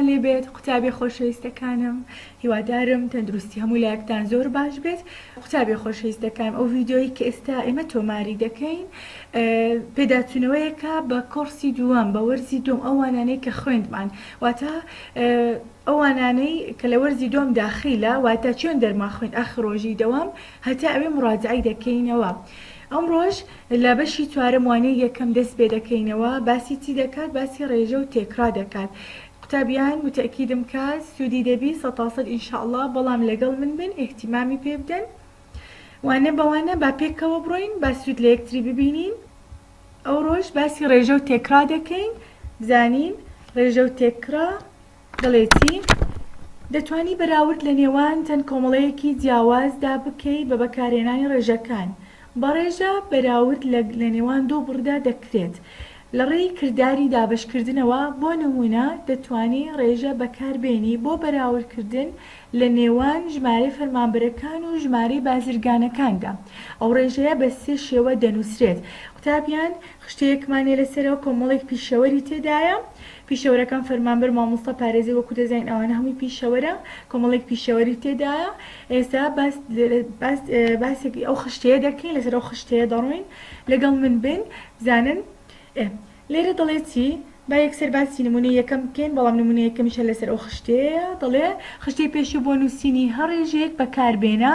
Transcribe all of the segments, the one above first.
هەلێ بێت قوتابیە خۆشەویستەکانم هیوادارم تەندروستی هەموو لایەکتان زۆر باش بێت قوتابیە خۆشەویستەکانم ئەو ڤیدیۆیەی کە ئێستا ئێمە تۆماری دەکەین پێداچوونەوەیەکە بە کۆڕسی دووەم بە وەرزی دووەم ئەو وانانەی کە خوێندمان واتە ئەو وانانەی کە لە وەرزی دووەم داخیلە واتە چۆن دەرمان خوێند ئاخر ڕۆژی دەوام هەتا ئەوێ مڕاجەعەی دەکەینەوە ئەمڕۆش لە بەشی چوارەم وانەی یەکەم دەست پێ دەکەینەوە باسی چی دەکات باسی ڕێژە و تێکڕا دەکات قوتابیان وتەئکیدم کا سودی دەبی سەتاسەد ان شاء اللە بەڵام لەگەڵ من بن ئیهتیمامی پێ بدەن وانە بە وانە با پێکەوە بڕۆین با سود لە یەکتری ببینین ئەوڕۆش باسی ڕێژە و تێکڕا دەکەین بزانین ڕێژە و تێکڕا دەڵێتی، دەتوانی بەراورد لە نێوان چەند کۆمەڵەیەکی جیاوازدا بکەی بە بەکارهێنانی ڕێژەکان، بە ڕێژە بەراورد لە لە نێوان دوو بڕدا دەکرێت لە ڕێی کرداری دابەشکردنەوە، بۆ نموونە دەتوانی ڕێژە بەکاربێنی بۆ بەراوردکردن لە نێوان ژمارەی فەرمانبەرەکان و ژمارەی بازرگانەکاندا، ئەو ڕێژەیە بە سێ شێوە دەنووسرێت، قوتابیان خشتەیەکمان هەیە لەسەرەوە کۆمەڵێک پیشەوەری تێدایە، پیشەوەرەکان فەرمانبەر مامۆستا پارێزەر وەکو دەزانین ئەوانە هەمووی پیشەوەرە کۆمەڵێک پیشەوەری تێدایە ئێستا باس باس باسێکی ئەو خشتەیە دەکەین لەسەر ئەو خشتەیە دەڕۆین لەگەڵ من بن بزانن ئێ لێرە دەڵێ چی با یەکسەر باسی نمونە یەکەم بکەین بەڵام نمونە یەکەمیشە لەسەر ئەو خشتەیە دەڵێ خشتەی پێشوو بۆ نووسینی هەڕێژەیەک بەکاربێنە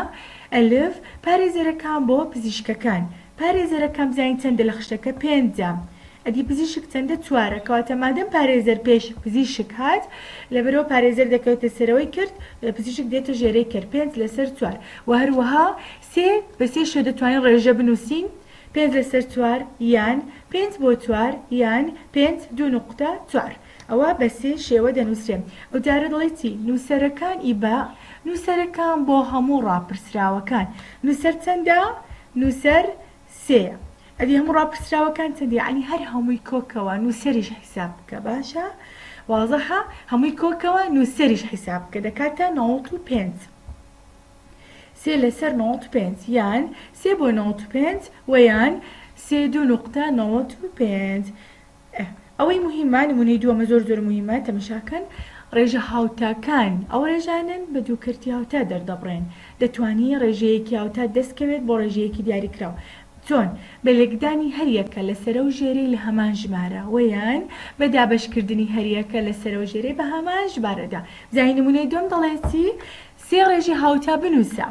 ئەلف پارێزەرەکان بۆ پزیشکەکان پارێزەرەکەم زانی چەندە لە خشتەکە پێنجە ئەدی پزیشک چەندە چوارە کەواتە مادەم پارێزەر پێش پزیشک هات لەبەرئەوە پارێزەر دەکەوێتە سەرەوەی کرد پزیشک دێتە ژێرەی کەر پێنج لەسەر چوار وە هەروەها سێ بە سێ شێ دەتوانین ڕێژە بنوسین پێنج لەسەر چوار یان پێنج بۆ چوار یان پێنج دوو نوقتە چوار. ئەوە بە سێ شێوە دەنووسرێ. ئەو جارە دەڵێ چی؟ نووسەرەکان ی بە، نووسەرەکان بۆ هەموو ڕاپرسراوەکان. نووسەر چەندە؟ نووسەر سێیە. ئەدی هەموو ڕاپرسراوەکان چەندە؟ یەعنی هەر هەمووی کۆ کەوە نووسەریش حیساب بکە. باشە؟ وازەحە؟ هەمووی کۆ کەوە نووسەریش حیساب بکە. دەکاتە نەوەت و پێنج. سێ لە سەر نەوەت و پێنج. یان سێ بۆ نەوەت و پێنج وە یان سێ دوو نوقتە نەوەت و پێنج. ئه ئەوەی موهیمە نمونەی دووەمە زۆر زۆر موهیمە تەمەشاکەن ڕێژە هاوتاکان ئەو ڕێژانەن بە دوو کەرتی هاوتا دەردەبڕێن دەتوانی ڕێژەیەکی هاوتات دەست کەوێت بۆ ڕێژەیەکی دیاری کراو چۆن بە لێکدانی هەریەکە لە سەرەو ژێرەی لە هەمان ژمارە وە یان بە دابەش کردنی هەریەکە لە سەرەو ژێرەی بە هەمان ژمارەدا جا هی نمونەی دووەم دەڵێتی سێ ڕێژەی هاوتا بنوسە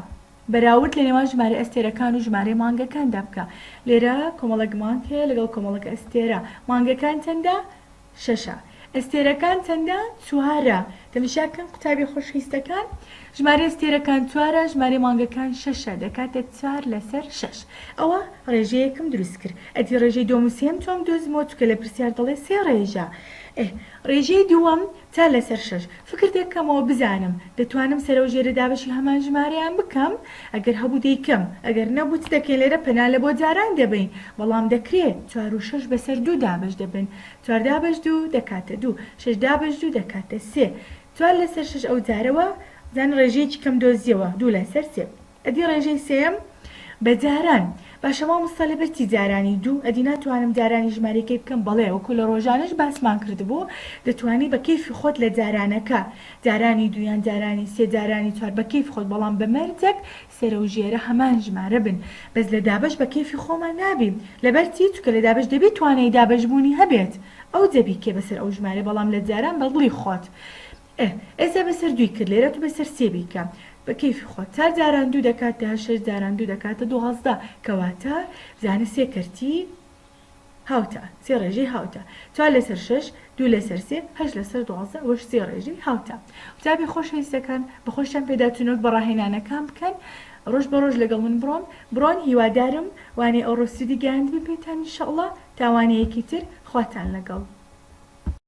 بەراورد لە نێوان ژمارەی ئەستێرەکان و ژمارەی مانگەکاندا بکە. لێرە کۆمەڵێک مانگ هەیە لەگەڵ کۆمەڵێک ئەستێرە. مانگەکان چەندە؟ شەشە. ئەستێرەکان چەندە؟ چوارە. تەمشا کەن قوتابیە خۆشویستەکان. ژمارەی ئەستێرەکان چوارە، ژمارەی مانگەکان شەشە، دەکاتە چوار لەسەر شەش. ئەوە ڕێژەیەکم دروست کرد. ئەدی ڕێژەی دووەم و سێیەم چۆن بدۆزمەوە؟ چونکە لە پرسیار دەڵێ سێ ڕێژە. ئه. ڕێژەی دووەم تا لەسەر شەش فکر دەکەمەوە بزانم دەتوانم سەرەو ژێرە دابەشی هەمان ژمارەیان بکەم ئەگەر هەبوو دەیکەم ئەگەر نەبوو چ دەکەین لێرە پەنا لە بۆ جاران دەبەین بەڵام دەکرێ چوار و شەش بەسەر دوو دابەش دەبن چوار دابەش دوو دەکاتە دوو شەش دابەش دوو دەکاتە سێ چوار لەسەر شەش ئەوجارە وازانە ڕێژەیەکی کەم دۆزیەوە دوو لەسەر سێ. ئەدی ڕێژەی سێیەم بە جاران. باشە مامۆستا لەبەر چی جارانی دوو ئەدی ناتوانم جارانی ژمارەی کەی بکەم بەڵێ وەکو لە ڕۆژانەش باسمان کردبوو دەتوانی بە کەیفی خۆت لە جارانەکە جارانی دوو یان جارانی سێ جارانی چوار بە کەیف خۆت بەڵام بە مەرجەک سەرە و ژێرە هەمان ژمارە بن بەس لە دابەش بە کەیفی خۆمان نابی لەبەر چی چونکە لە دابەش دەبی توانای دابەش بوونی هەبێت ئەوجە بیکەی بەسەر ئەو ژمارە بەڵام لە جاران بە دڵی خۆت ئە ە زە بە سە ردوی کرد لێرە تو بە سە رسێ بی کە بە کە یفی خۆت تار داران دو دە کاتە هە شش داران دو دە کاتە دوازدە کە واتە بزانە سێ کە رتی هاوتا سێ رێژەی هاوتا چوار لە سە رشش دو لە سە رسێ هەشت لە سە ردوازدە ئە وەش سێ رێژەی هاوتا قوتابی خۆش هە ویستە کان بە خۆشتان پێ دا تونۆک بە راهێنانە کان بکەن رۆژ بە رۆژ لە گەڵ من بڕۆن بڕۆن هیوا دارم وانەی ئە وڕۆسیدی گەیاندبم پێتان ان شاءاللە تا وانە یە کی تر خواتان لە گەڵ.